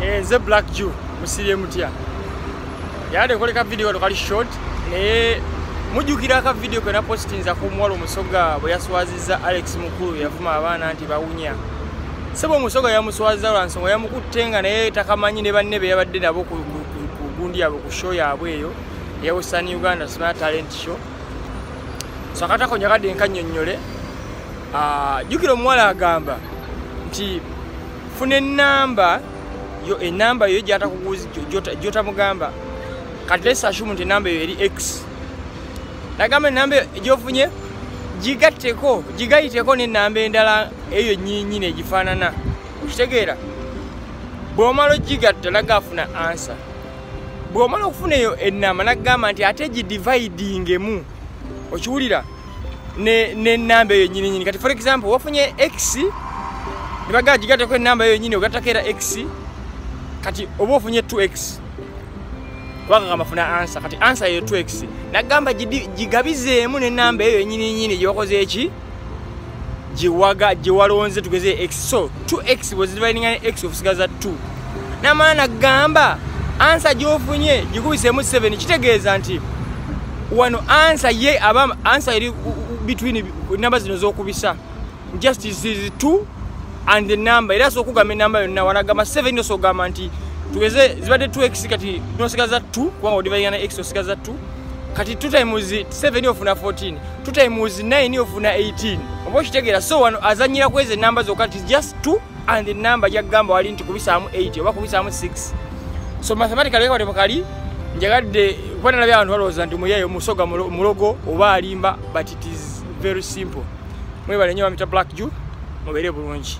Eh, nze black jew musibye mutya yade koleka video kano kali short naye mujjukira aka video kena postinza ku muwala omusoga bwe yaswaziza alex mukulu yavuma abaana nti bawunya sebo omusoga yamuswaziza lwa nsonga yamukutte nga naye takamanyi ne banne be yabadde nabo ku gundi yabwe ku show yabwe eyo eya western uganda smart talent show so akatako njakadde nkannyonnyole ah, jjukira omuwala agamba nti funa enamba yo enamba yo gyatakuguzi gyotamugamba kati lesashumu nti enamba eyo eri x nagamba enamba eyo gyofunye gigatteko gigayiteko nenamba endala eyo nyinyini egifaanana okitegeera bwomala ogigatta nagafuna ansa bwomala okufuna eyo enamba nagamba nti ate gidividingemu okiwulira okay. nenamba eyo nyininyini kati for example wafunye x nebagaa gigatako enamba eyo nyini ogatako era x kati oba ofunye 2x kubanga kamafuna ansa kati ansa eyo 2x nagamba gigabizeemu nenamba eyo nyininyini gyewakoze eki gyewaga gyewalonze tugeze x so 2x bwezidivaininga ne x ofusigaza 2 namala nagamba ansa gyofunye gikubisemu 7 kitegeeza nti wano ansa ye aba ansa eri between namba zino zokubisa just is 2 and the number era sokugamba enamba yonna wanagamba 7 nosogamba nti tugeze zibadde 2x kati nosigaza 2 kubanga odivainga ne x osigaza 2 kati two times 7 ofuna 14 two times 9 ofuna 18 oba okitegeera so wano azanyira kwezi enamba zokka ti just 2 and the number jagamba wali nti kubisaamu 8 oba kubisaamu 6 so mathematical yekawate mukali njagadde kuba nalabye abantu balowooza nti muyeeyo musoga mulogo oba alimba but it is very simple mwebale nyo bamita black jew mubeere bulungi